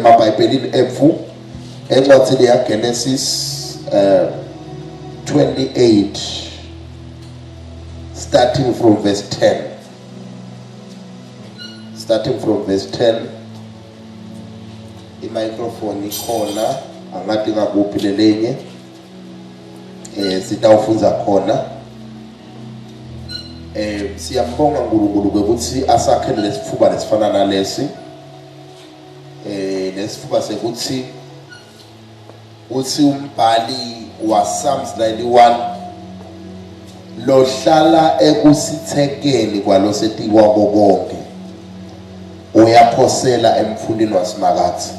emabhayibhelini ethu encwadini yagenesis um eh, 28 starting from verse 10 starting from verse 10 imicrophone ikhona angathi ngakuphi lelenye eh sitawufundza khona eh siyambonga uNkulunkulu ukuthi asakhele lesifuba lesifana nalesi eh lesifuba sekuthi uthi umbhali wa Psalms 91 lohlala ekusithekeni kwalosetikwa konke uyaphosela emfundini wasimakathi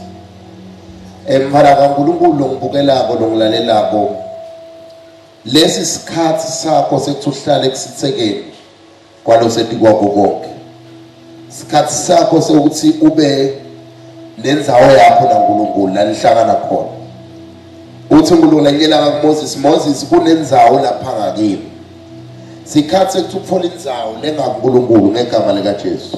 Emfana kaNkulunkulu longibukelako longilalelako lesi sikhathi sakho sekuthi uhlale kusithekeni kwaloseti kwakho konke sikhathi sakho sokuthi ube nenzawo yakho naNkulunkulu la nihlangana khona uthi uNkulunkulu enyela kaMoses Moses kunenzawo lapha ngakini sikhathi sekuthi ukuthola inzawo lengakuNkulunkulu ngegama likaJesu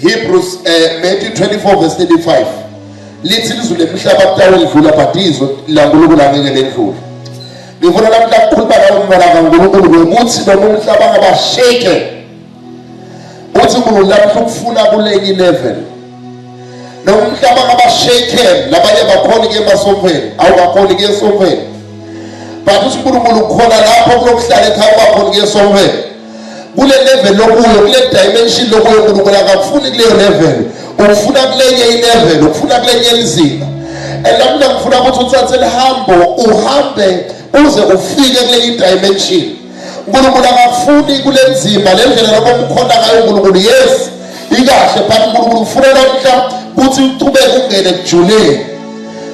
Hebrews eh, Matthew 24 verse 35 lithi lizulu emhlaba kuthiwa lidlula but izwi laNkulunkulu angeke ledlule ngifuna namhla kukhuluma nawe umntwana kaNkulunkulu ngokuthi noma umhlaba ngabasheke uthi uNkulunkulu lapho ukufuna kuleki level noma umhlaba ngabasheke labanye bakhona ke emasomfeni awukakhona ke esomfeni but uthi uNkulunkulu ukhona lapho kulokuhlala ekhaya kwakhona ke esomfeni kule level lokuyo kule dimension lokuyo uNkulunkulu akakufuni kuleyo level ukufuna kulenye ilevel ukufuna kulenye lizinga and lapho ngifuna ukuthi uthathe lihambo uhambe uze ufike kule dimension uNkulunkulu akakufuni kule nzima le ndlela lokho umkhonda ngayo uNkulunkulu yes ikahle but uNkulunkulu ufuna namhla ukuthi uqhubeke ungene kujuleni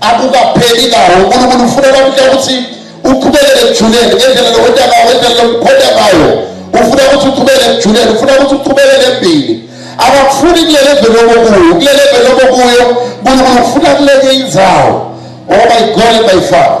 akukapheli lawo unkulunkulu ufunela kuhle ukuthi uqhubekele ekujuleni ngendlela lokwenta ngayo ngendlela lokukhonda ngayo ufuna ukuthi uqhubekele ekujuleni ufuna ukuthi uqhubekele embili akakufuni kulele vele okokuyo kulele vele okokuyo unkulunkulu ufuna kuleke indzawo ngoba igole bayifaka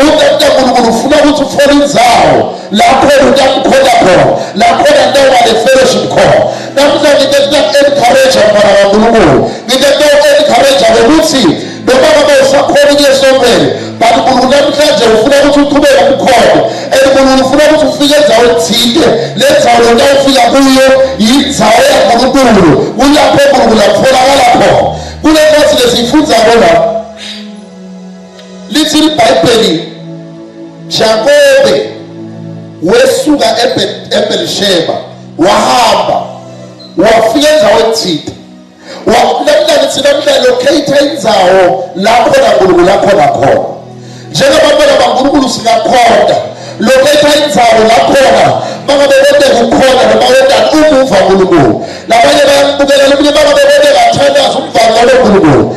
uNkulunkulu uNkulunkulu ufuna ukuthi uthole inzawo lapho utamkhona khona lapho nanoba ne-fellowship khona namhla nginte kuta-encourage mfana kaNkulunkulu nginte kuta-encourage ngokuthi noma ngabe usakhona ukuya esontweni but uNkulunkulu namhlanje ufuna ukuthi uqhubeke umkhondo and uNkulunkulu ufuna ukuthi ufike enzaweni thile le nzawo lona ufika kuyo yinzawo yaNkulunkulu kulapho uNkulunkulu akutholakala khona kule nkosi lesiyifunza kona lithi iBhayibheli Jakobe wesuka eBelisheba wahamba wafika endaweni thita wakulamla lithi namhla locate indawo lapho naNkulunkulu akhona khona njengabantwana baNkulunkulu singakhonda locate indawo lakhona mangabe kodwa kukhona noma kodwa umuva uNkulunkulu labanye bayambukela lomunye mangabe kodwa bathandaza umvangelo uNkulunkulu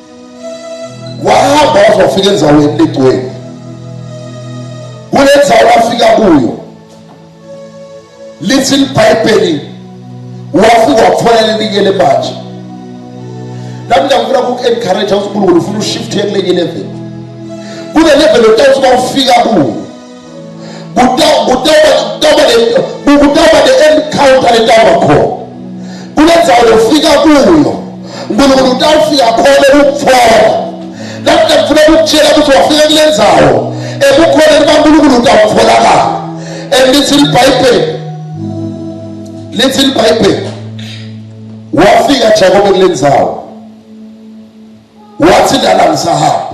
wahamba waze wafika enzaweni legcwele kule nzawo lafika kuyo lithi libhayibheli wafika wathola lelinye lemanje nami ngiyakufuna kuku-encourage ukuthi unkulunkulu ufuna ushifte kulenye level kule level otawuthi bawufika kuyo kutawuba ne-encounter letawuba khona kule ndzawo lofika kuyo unkulunkulu utawufika khona ukutfola namhla ngifuna ukutshela ukuthi wafika kule ndzawo ekukhona likankulunkulu utawutfolakala and lithi libhayibheli lithi libhayibheli wafika jakobe kule ndzawo wathi lala ngisahamba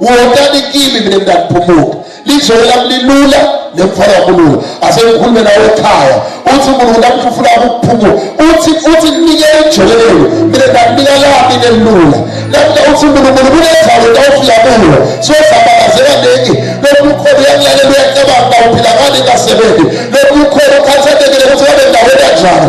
Wotani kimi mina ngiyaphumuka. Lizoyo lami lilula nemfana kulula. Asengikhulume nawe ekhaya. Uthi uNkulunkulu lapho ufuna ukuphumula. Uthi uthi nike ejolelo. Mina nginika lami nelula. Lapho uthi uNkulunkulu kunendawo tawufika kuyo. So sabakazela niki. Lokhu ukhona uyakulalela uyacabanga uphila ngani kasebenzi. Lokhu ukhona ukhathatekile ukuthi wabe ndawo kanjani.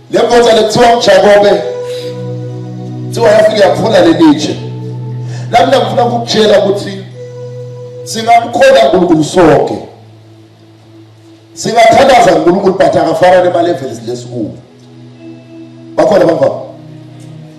Le ndoda lekuthiwa uJakobe kuthiwa yafika yaphula lelitshe. Nami ngifuna ukukutshela ukuthi singamkhona uNkulunkulu sonke. Singathandaza uNkulunkulu but akafana nemalevels lesikuwo. Bakhona bangaba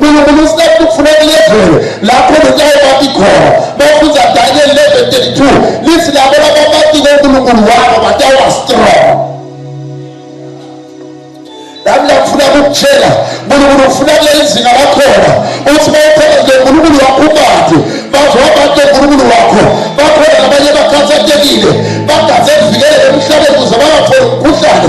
unkulunkulu usinike ukufuna kulezulu lapho nokulaye bati khona bafundza daniel 11 32 lithi labo labamatike unkulunkulu wabo batawa strong nami ngiyakufuna kukutshela nkulunkulu ufuna kuleli zinga lakhona uthi bawuphela nje nkulunkulu wakho ubati bazohamba nje nkulunkulu wakho bakhona nabanye bakhathatekile bagaze kuvikelele emhlabeni kuze bangatholi umkhuhlane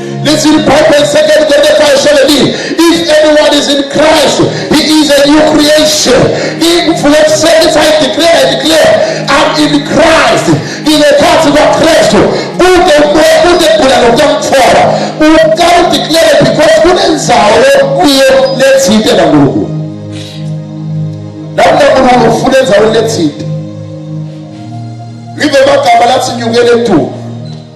Listen, Bible in Second Corinthians 17. If anyone is in Christ, he is a new creation. In verse says, I declare, I declare, I'm in Christ. In the heart of Christ. Kude umoya kude kugula nokutamthola. Ukukala declare because kunenzawo yokuye lethinte naNkulunkulu. Lapho uNkulunkulu ufuna enzaweni lethinte. Libe amagama lathi nyukele etulo.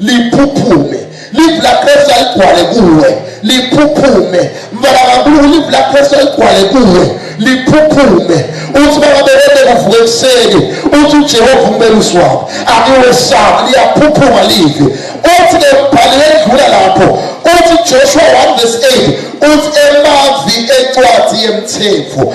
liphuphume live la pressure igcwale kuwe liphuphume mfana kankulunkulu live la pressure igcwale kuwe liphuphume uthi bakaberede kuvuka ekuseni uthi ujehova umbelusi wabo angiwesabi liyaphuphuma live uthi ke mbhali wedlula lapho uthi joshua 1 verse 8 uthi emavi encwadi yemthetho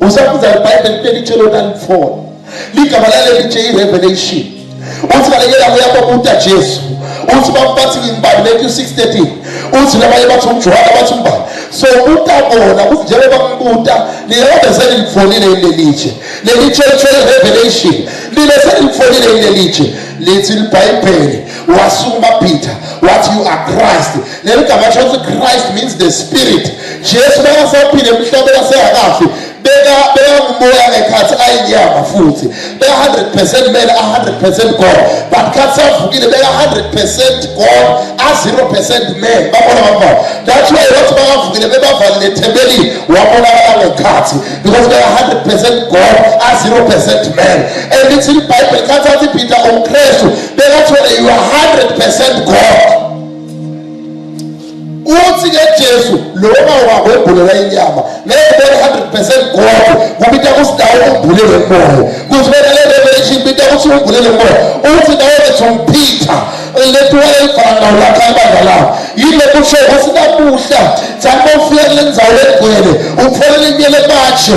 usabuza ibhayibheli kube litshela ukuthi alifona ligama lalelitshe i-revelation uthi balekela kuyababuta jesu uthi bathi ngimbani matthew 6 13 uthi nabanye bathi umjuhana bathi umbani so ubuta bona kuthi njengoba kubuta liyona selilifonile ilelitshe lelitshe lithwele revelation lile selilifonile ilelitshe lithi libhayibheli wasukuma peter wathi you are christ leli gama thothi christ means the spirit jesu bekasaphile emhlabeni asengakafi bekangumoya ngekhathi ayinyama futhi beka-100 percent mele a-100 percent god but khathi savukile beka-100 percent god a-0 percent man babona bafana that's why wathi bakavukile bebavalile ethebelini wabonakala ngekhathi because beka-100 percent god a-0 percent man and lithi libhayibheli khathi athi peter umkristu bekathole you are 100 percent god uthi ke Jesu loma wakwebhulela inyama ngeke bone 100% kodwa kubita kusidawo umbulele moya kufanele revelation bita ukuthi umbulele moya uthi nawe bethi umphitha lethu wayefana nawo lapha ebandla lawo yile kusho ukuthi namuhla sakofika kule ndzawo legcwele ufanele kumele batshe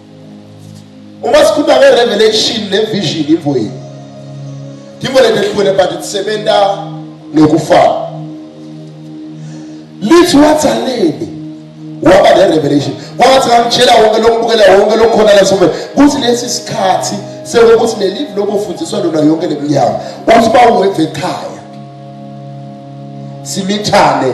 Uma sikhuluma nge revelation ne vision info yini. Timo letehlukene but isebenza nokufana. Lithi watsaleni waba ne revelation. Wathi ngangitshela wonke lokubukela wonke lokhona la sobe. Kuthi lesi sikhathi sekukuthi leli lokufundiswa lona yonke leminyaka. Uthi bawuve ekhaya. Simithane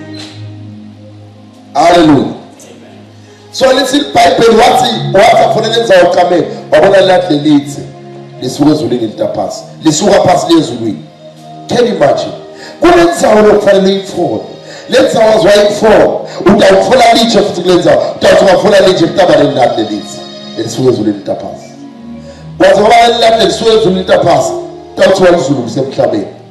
haleluya so lithi ibhayibheli wathi wathi afanele enza uqamele wabona lahle lithi lisuka ezulwini litaphasi lisuka phasi liye ezulwini can you imagine kunenzawo lokufanele uyithole le nzawo aziwayithole utawuthola litshe futhi kule nzawo utawuthi ungathola litshe kutabaleni lahle lithi elisuka ezulwini litaphasi waze waba lelahle lisuka ezulwini litaphasi utawuthi walizulu kusemhlabeni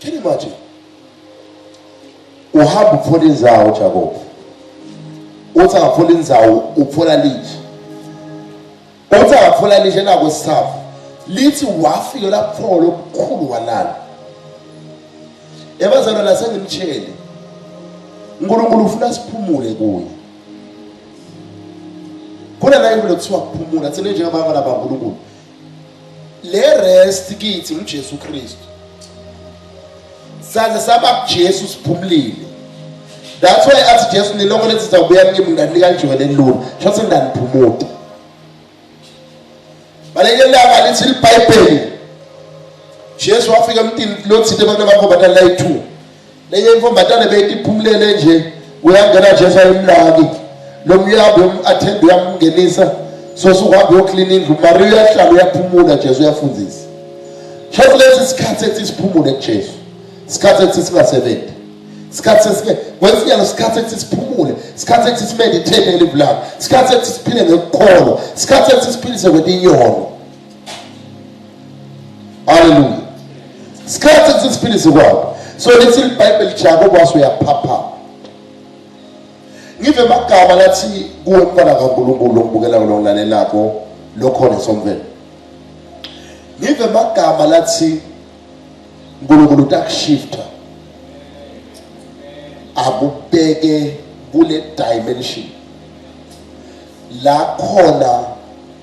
Can you imagine? Uhamba ukufuna inzawo Jacob. Uthi angafuna inzawo ukufuna lithi. Uthi angafuna lithi nako sithafu. Lithi wafika lapho lokukhulu walala. Ebazalwa la sengimtshele. uNkulunkulu ufuna siphumule kuye. Khona la into lokuthiwa kuphumula thina njengabantwana baNkulunkulu le rest kithi uJesu Kristu saze saba kuJesu siphumlile that's why athi Jesu nilonke lethi zakubuya kimi ngani kanjena lelula shothi nganiphumuta baleke langa lithi iBhayibheli Jesu wafika emntini lothile abantu bakho bathatha layi 2 Nenye imfombatane beyiphumulele nje uyangena nje sayimlaki lo myabe umu-athenda uyamngenisa sosuke uhambe uyoklina indlu mari uyahlala uyaphumula jesu uyafundisa shothi lesi sikhathi ethi siphumule kujesu isikhathi ethi singasebenzi isikhathi sesike kwesinye isikhathi ethi siphumule isikhathi ethi simeditate elivu lakho isikhathi ethi siphile ngekukholwa isikhathi ethi siphilise kwetinyolo haleluya sikhathi ukuthi siphilise kwabo so lithi libhayibheli jako kwaso uyaphapha ngive magama lathi kuwe mfana kankulunkulu okubukelayo longilalelako lokhona somvelo ngive magama lathi uNkulunkulu utakushifta akubheke kule dimension la khona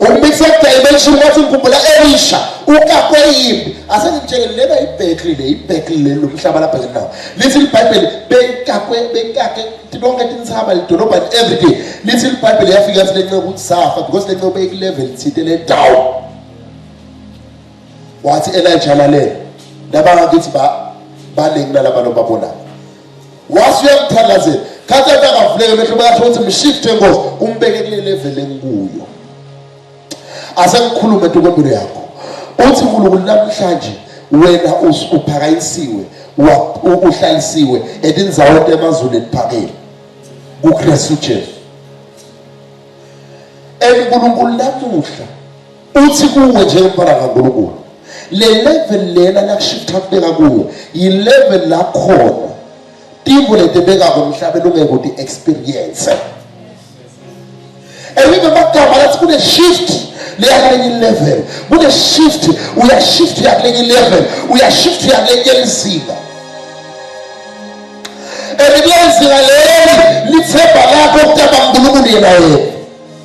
umbithe dimension wathi ngikhumbula elisha ukakwe yimbi asengimtshele lena ibhekli le ibhekli le lomhlaba lapha ke nawo lithi libhayibheli bekakwe bekake bonke tintsaba lidolobha every day lithi libhayibheli yafika yathi lenceku ukuthi safa because lenceku beyiku-level thinte le down wathi elijah lalela nabangakithi baningi nalaba lobabonayo wase uyamthandazela khathi athi akavuleke mehlo bayasho ukuthi mshifte nkosi umbeke kule level engikuyo asengikhulume ntokombilo yakho uthi nkulunkulu namhlanje wena uphakanyisiwe uhlalisiwe etinzaweni emazulu eliphakeme kukristu jesu enkulunkulu namuhla Uthi kuwe njengomfana kaNkulunkulu le level lena lakushiftha kubeka kuyo yi-level lakhona tivo letebekako emhlabeni ungeke uti-experience elive magama lathi kune-shift leyakulenye ilevel kune-shift uyashift uyakulenye ilevel uyashift uyakulenye elizinga and kulenzinga leli lithemba lakho ukutaba nkulunkulu yena yena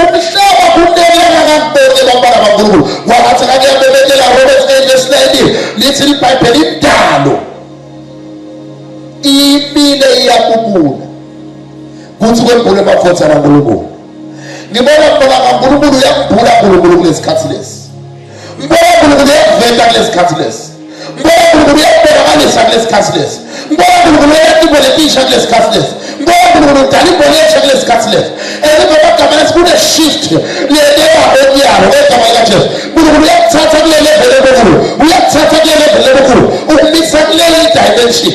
umhlaba kunelanga kakubeke bantwana bankulunkulu wangathi kakuyabebekela romans 8 verse 19 lithi libhayibheli indalo imile iyakubula kuthi kwembule emafotha kankulunkulu ngibona mbola kankulunkulu uyakubhula nkulunkulu kulesikhathi lesi Mbonkulunkulu uyakuveta kulesikhathi lesi. Mbonkulunkulu uyakubonakalisa kulesikhathi lesi. Mbonkulunkulu uyakutibona letisha kulesikhathi lesi. Mbonkulunkulu udala ibona esha kulesikhathi lesi. Elimabagama lesi kune shift ledewa enyalo egama likaJesu. Nkulunkulu uyakuthatha kule level enkulu. Uyakuthatha kule level enkulu. Ukumisa kule dimension.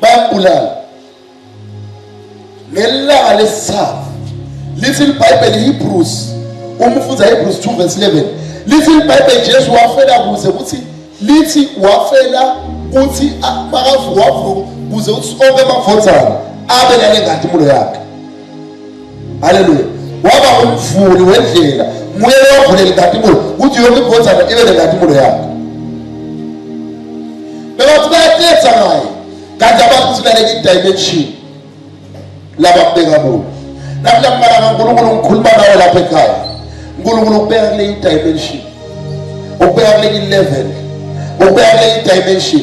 bayambulala ngelanga lesithathu lithi libhayibheli hebrews uma ufunza hebrews 2 verse 11 lithi libhayibheli jesu wafela kuze kuthi lithi wafela kuthi makavuwavu kuze uthi onke amavotana abe nale ngantimulo yakhe haleluya waba umvuli wendlela nguye lowavulela inkatimulo ukuthi yonke iphonzana ibe nenkatimulo yakho bebathi bayatetha ngaye kanti abantu sibaleka idimension laba kubeka kulo namhla kubala kankulunkulu ngikhuluma nawe lapha ekhaya unkulunkulu ukubeka kule idimension ukubeka kule ilevel ukubeka kule idimension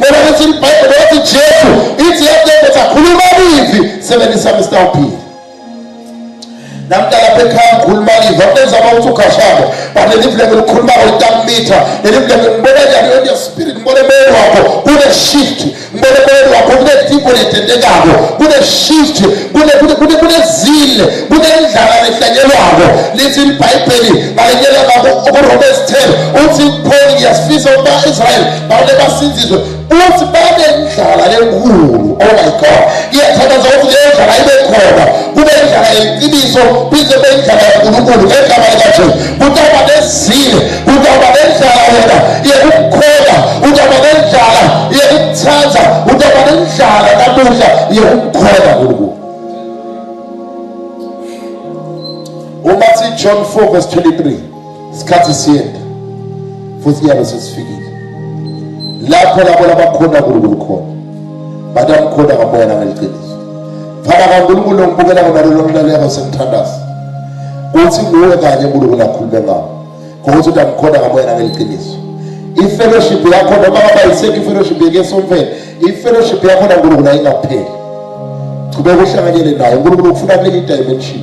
Bona ukuthi iBhayibheli yathi Jesu ithi yathi akhuluma livi sebenzisa Mr. Uphile. namdala bekhaya ngikhuluma liva benza bawuthi ukhashabo but lelivuleke likhuluma ngoyitakumitha lelivuleke ngibona njani on your spirit ngibona emoyeni wakho kune-shift ngibona emoyeni wakho kune-dipo letendekako kune-shift kunezile kunendlala lehlanyelwako lithi libhayibheli ngalenyela ngako kuromans 10 uthi pholi ngiyasifisa ukuba israyeli bale basinzizwe uthi babe ndlala enkulu oh my god iyathandaza ukuthi leyo ndlala ibe khona kube ndlala yeqiniso bize kube ndlala yankulunkulu ngegama likajesu kutaba nezile kutaba nendlala wena yekukukhola utaba nendlala yekukuthanda utaba nendlala namuhla yekukukhola nkulunkulu umathi john 4 verse 23 isikhathi siyenda futhi kuyabe sesifikile lapho labo labakhona uNkulunkulu khona batamkhona ngamoya nangeliqiniso fana kaNkulunkulu ngibukela ngona lelo mlaleko semthandazo uthi nguwe kanye uNkulunkulu akhulume ngawo ngokuthi utamkhona ngamoya nangeliqiniso ifellowship yakho noma ngaba yisekho ifellowship yekesomfeni ifellowship yakho naNkulunkulu ayingapheli qhubeka uhlanganyele naye uNkulunkulu ufuna kuleli dimension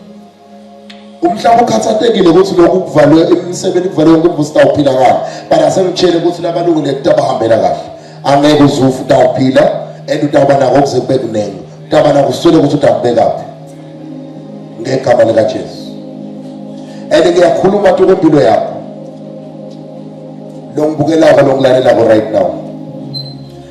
umhlaba ukhathatekile ukuthi lokhu kuvalwe imisebenzi kuvalwe yonke umvusi tawuphila kahle but asengitshele ukuthi labalungu lento abahambela kahle angeke uzufu tawuphila and utawuba nako ukuze kube kuningi utawuba nako uswele ukuthi utakubekaphi ngegama likajesu and ngiyakhuluma tu kwempilo yakho lo ngibukelako lo ngilalelako right now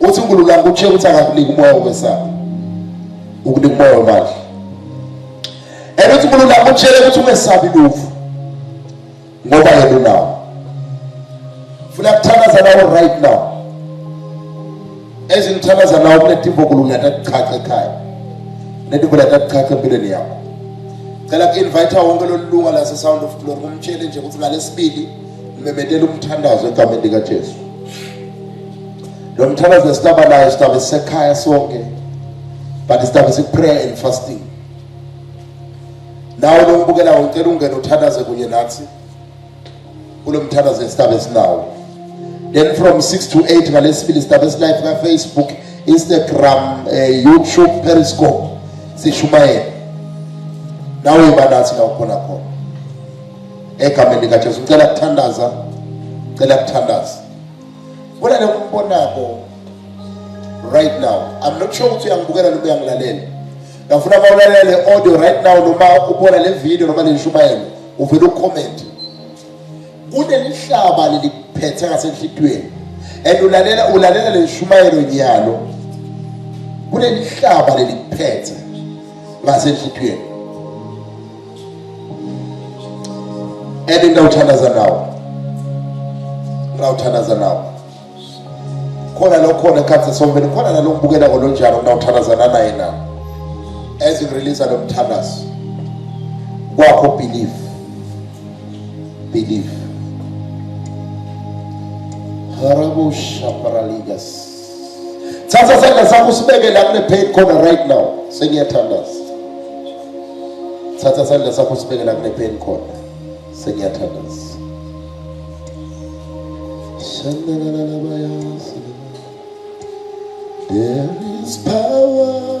Uthi uNkulunkulu ukushiya ukuthi akakuniki umoya wokwesaba. Ukunika umoya wemali. And uthi uNkulunkulu ukutshela ukuthi ungesabi lufu. Ngoba yena unawo. Funa kuthandaza nawe right now. Ezingithandaza nawe kunetimbo uNkulunkulu atakuchacha ekhaya. Netimbo latakuchacha empilweni yakho. Cela ku-invite wonke lolu lunga lase-Sound of Glory kumtshele nje ukuthi ngalesibili Ngimemethela umthandazo egameni likaJesu. Lo mthandazo esitaba nayo sitaba sekhaya sonke. But sitaba se prayer and fasting. Nawe lombukela ucela ungena uthandaze kunye nathi. Kulo mthandazo esitaba esinawo. Then from 6 to 8 ngalesifili sitaba esilive ka Facebook, Instagram, eh, YouTube, Periscope sishumayela. Nawe banathi la ukhona khona. egameni likaJesu ngicela kuthandaza ngicela kuthandaza bona lokumbonako right now i'm not sure ukuthi uyangibukela noma uyangilalela ngafuna uma ulalela le audio right now noma ubona le video noma le nshumayelo uvele ucomment kunelihlaba leliphethe ngasenhlitiyweni and ulalela ulalela le nshumayelo nyalo kunelihlaba leliphethe ngasenhlitiyweni and ngawuthandaza nawo ngawuthandaza nawo khona lo khona ekhathe sombeni khona nalo ngibukela kolo njalo ngawuthandazana naye nawo as you release lo mthandazo kwakho believe believe harabo shaparaligas thatha sandla sakho usibeke la kule pain khona right now sengiyathandaza thatha sandla sakho usibeke la kule pain khona sengiyathandaza There is power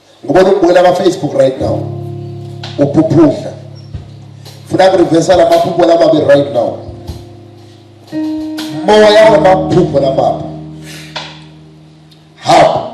Ngibona ukubukela ka Facebook right now. Uphuphudla. Funa ku reverse la maphupho la babe right now. Moya wa maphupho la babe. Hapa.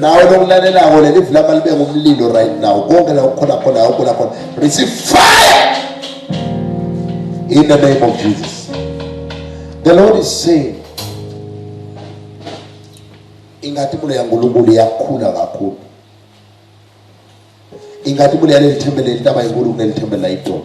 nawe lokulalelako lelivi lama libe ngumlilo right now konke la ukhona khona awukhona khona receive fire in the name of jesus the lord is saying ingati mulo yankulunkulu yakhula kakhulu ingati mulo yaleli thembele litaba inkulu kuneli thembele layidolo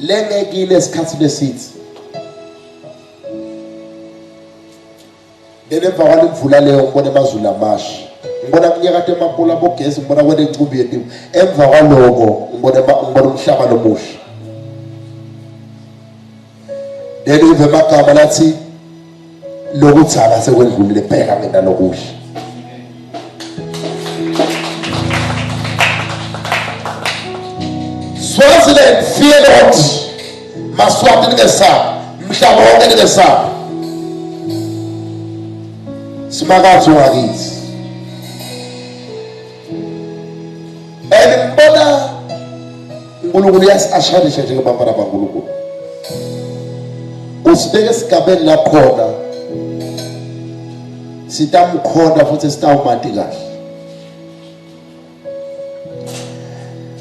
lengekile esikhathini esithi then emva kwale mvula leyo ngibona emazulu amashi ngibona kunyakade emapula bogesi ngibona kwena incumbi yetimu emva kwaloko ngibona umhlaba lomusha then uve emagama lathi lokutshala sekwendlulile bheka mina lokuhle Swaziland fear not maswati ningesabi mhlaba wonke ningesabi simakatho wakithi and ngibona uNkulunkulu uyasashanisha njengebafana baNkulunkulu usibeke esigabeni lakhona sitamkhona futhi sitawumati kahle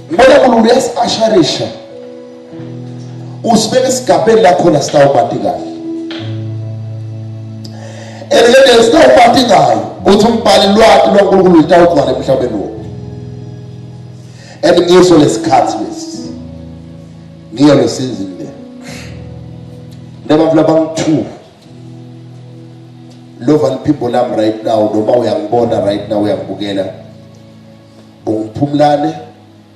ngibona uNkulunkulu uyasashanisha usibeke esigabeni lakhona sitawubati kahle elikene sitawubati ngayo ukuthi umbhali lwati lwankulunkulu litawugcwala emhlabeni wo and ngiso lesikhathi lesi ngiyo lesizini le nebantu labangu-two lova liphimbo lami right now noma uyangibona right now uyangibukela ungiphumlane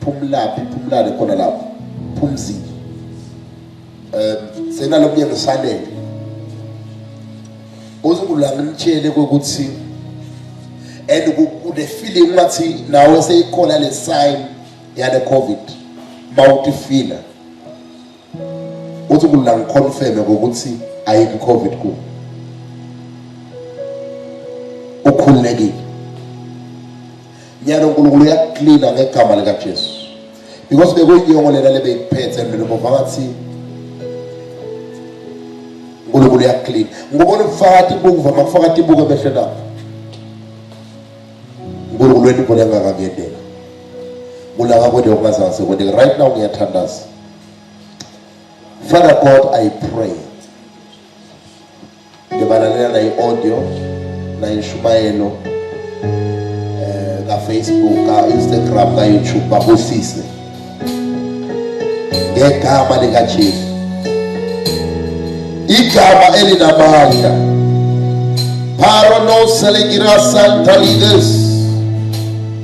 Phumlaphi phumlale khona lapho. Phumzile. Eh senalo myeni usalele. Uzungula ngimtshele ukuthi and kune feeling ngathi nawe seyikhona le sign yale covid mawutifila uthi kulula ngiconfirme ukuthi ayikho covid ku ukhululekile nyalo uNkulunkulu uyakucleana ngegama lika Jesu because bekuyinyongo lena lebeyiphethe mina bova ngathi uNkulunkulu uyakucleana ngibona ubufakathi bukuva makufakathi buke behle lapho uNkulunkulu wethu ubona ngakangedela kulaka kwethu okungazange sekwendeke right now ngiyathandaza Father God, I pray. Ngibalalela na i-audio na inshumayelo eh ka Facebook, ka Instagram, ka YouTube babusise. Ngegama lika Jesu. Igama elinamandla. Parono selegirasa talides.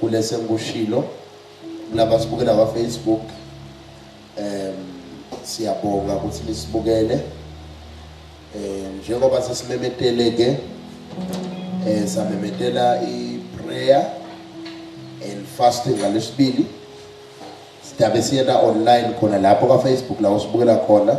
Kulesi engikushilo kulaba asibukela kwa Facebook em siyabonga ukuthi nisibukele eh njengoba sesimemetele ke eh samemetela i prayer and fasting ngalesibili sidabe siyena online khona lapho ka Facebook la usibukela khona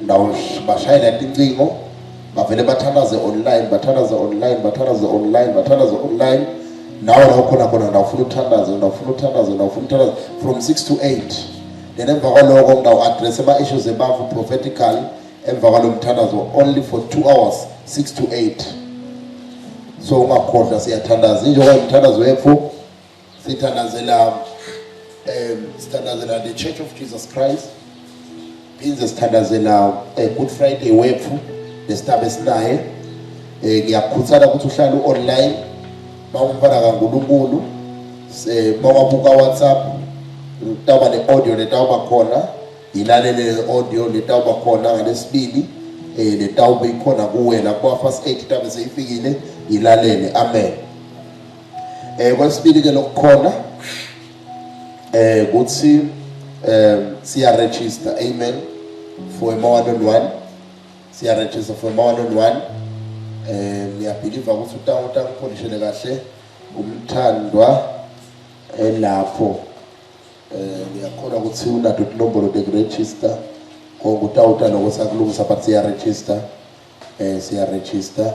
ndawubashayela tincingo bavele bathalaze online bathalaze online bathalaze online bathalaze online nawe la ukhona khona ndawufuna uthandaze ndawufuna uthandaze ndawufuna uthandaze from 6 to 8 then emva kwaloko ngidawuaddress ama-issues ebavu prophetical emva kwalo mthandazo only for 2 hours 6 to 8 so ungakhohlwa siyathandaza injengoba umthandazo wethu sithandazela um sithandazela the church of jesus christ phinde sithandazela um eh, good friday wethu nesitaba esinaye um eh, ngiyakukhuthana ukuthi uhlale u-online bawumfana kankulunkulu um eh, bawabuka whatsapp utawuba ne-audio letawuba khona yilalele le-audio letawuba khona ngalesibili um letawube ikhona kuwena kwa-first aid tabe seyifikile yilalele amen Eh kwesibili ke lokukhona eh kuthi eh siya register amen for a more than one siya register for a more than one eh ngiyabhiliva ukuthi utango tango polishele kahle umthandwa elapho eh ngiyakhona ukuthi unato inombolo de register konke utawuta lokho sakulungisa but siya register eh siya register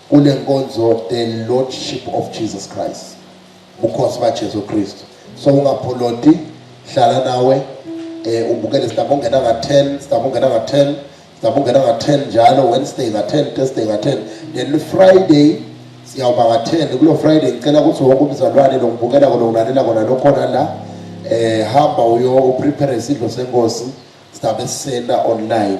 Kule nkonzo the lordship of Jesus Christ. Bukhosi ba Jesu Kristu. So ungapholoti hlala nawe eh ubukele sidaba ungena nga 10, sidaba ungena nga 10, sidaba ungena nga 10 njalo Wednesday nga 10, Thursday nga 10, then Friday siyawuba nga 10 kulo Friday ngicela ukuthi wonke umzalwane lo ngibukela kona ulalela kona lokhona la eh hamba uyo prepare isidlo senkosi sidabe sisena online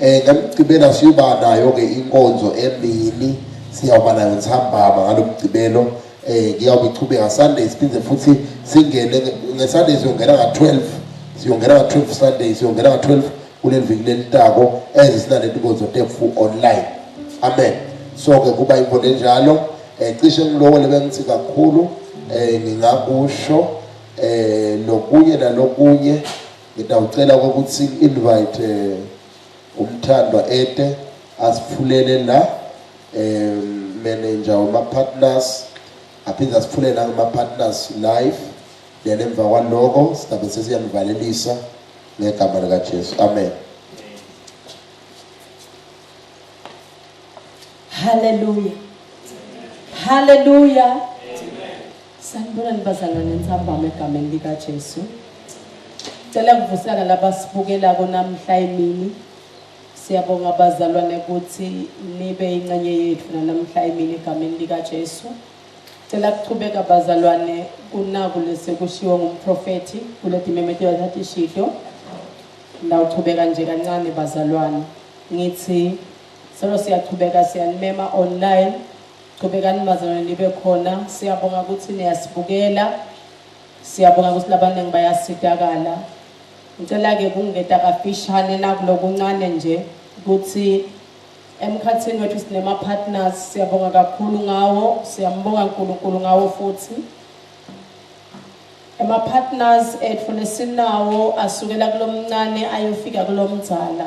Eh ngamgcibela siyoba nayo ke inkonzo emini siyawuba nayo ntambama ngalomgcibelo eh ngiyawube ichubeka Sunday siphinde futhi singene ngeSunday siyongena nga12 siyongena nga12 Sunday siyongena nga12 kuleli viki lelitako ezisinale inkonzo tefu online amen so ke kuba inkonzo enjalo eh cishe ngilowo lebengithi kakhulu eh ngingakusho eh lokunye nalokunye Ngidawucela ukuthi invite eh, umthandwa ete asifulele la eh manager uma partners aphinde asifulele la kuma partners live then emva kwaloko sidabe sesiyanivalelisa ngegama lika Jesu amen Hallelujah Hallelujah Sanibonani bazalwane entsambama egameni likaJesu. Cela kuvusana labasibukelako namhla emini. Siyabonga bazalwane ukuthi nibe incenye yethu nanamhla emini egameni likaJesu. Cela kuchubeka bazalwane kunaku lesekushiwo ngumprofethi kule dimemetelo thathi shito. Ndawuchubeka nje kancane bazalwane. Ngithi solo siyachubeka siyanimema online Qhubekani bazalwane nibe khona. Siyabonga ukuthi niyasibukela. Siyabonga ukuthi labaningi bayasitakala. Ngicela ke kungeta kafishane nakulokuncane nje ukuthi emkhathini wethu sinema partners siyabonga kakhulu ngawo siyambonga uNkulunkulu ngawo futhi ema partners ethu lesinawo asukela kulomncane ayofika kulomdzala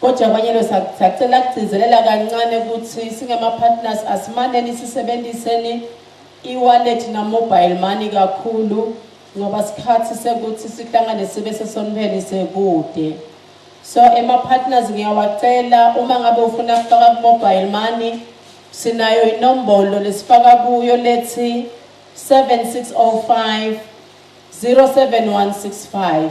Kodwa abanyelo sacela kugcizelela kancane ukuthi singama-partners asimaneni sisebenziseni e-wallet na-mobile money kakhulu ngoba sikhathi sekuthi sihlangane sibe sesonibeni sekude so ema-partners ngiyawacela uma ngabe ufuna kufaka ku-mobile money sinayo inombolo lesifaka kuyo lethi 7605 07165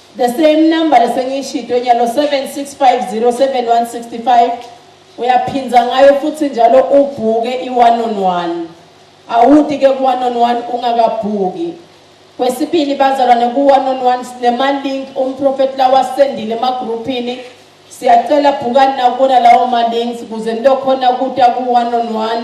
The same number lesengiyishito nyalo 76507165 uyaphinza ngayo futhi njalo ubhuke i-one on one awuti ke ku-one on one ungakabhuki kwesibili bazalwane ku-one on one sinemalink umprofethi lawasendile emagruphini siyacela bhukani nakubona lawo malinks kuze nilokhona kuta ku-one on one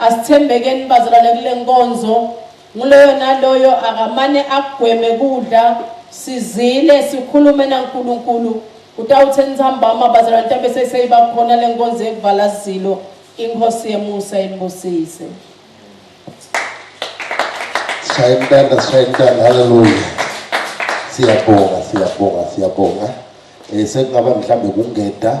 Asithembekeni bazalwane kule nkonzo, nguloyo naloyo akamane agweme kudla sizile sikhulume naNkulunkulu utawuthe ntsambama bazalwane ntambe seseyiba khona le nkonzo yekuvala zilo inkosi yemusa imbusise. Sishaya intanda, sishaya intanda, haleluya. Siyabonga, siyabonga, siyabonga. Eh sekungaba mhlambe kungeda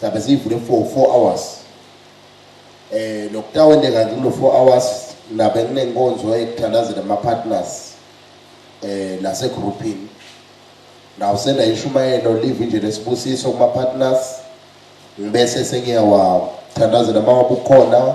Sihambe siyivule for 4 hours. Eh nokutawendeka kulo 4 hours nabe kunenkonzo ekuthandazela ama partners eh lase groupini. Nawu senda ishumayelo live nje lesibusiso kuma partners bese sengiyawa thandazela mawabukhona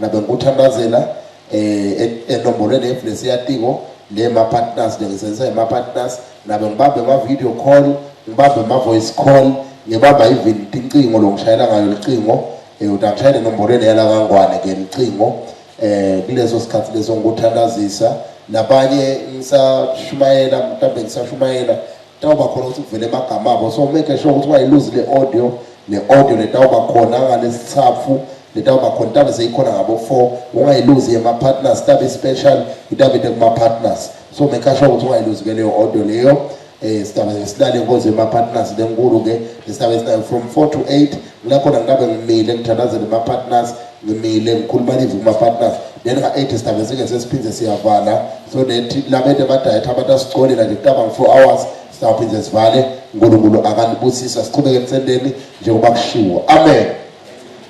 Ngabe ngikuthandazela eh enomborweni e-, eflesi yatiko le ma partners njengisebenzisa ngama partners nabe ngibambe ama video call ngibambe ama voice call ngibamba even incingo lo ngishayela ngayo licingo eh utangishayela enomborweni yala kangwane ke licingo eh kuleso sikhathi leso ngikuthandazisa nabanye ngisashumayela mhlawumbe ngisashumayela Tawuba khona ukuthi kuvele amagama abo so make sure ukuthi wayiluzi le audio ne audio letawuba khona ngalesithaphu letawuba khona itabe seyikhona ngabo 4 ungayiluzi yema partners itabe special itabe kuma partners so make sure ukuthi ungayiluzi ke leyo audio leyo eh sitaba silale inkonzo yema partners lenkulu ke lesitaba esinayo from 4 to 8 Nginakhona nginabe ngimile ngithandazele ma partners ngimile ngikhuluma live kuma partners then nga 8 sidabe sike sesiphinde siyavala so nethi labede badayetha abantu asicolela nje kutaba ngo 4 hours sawuphinde sivale uNkulunkulu akanibusisa siqhubeke emsendeni njengoba kushiwo amen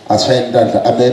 ashaye intandla amen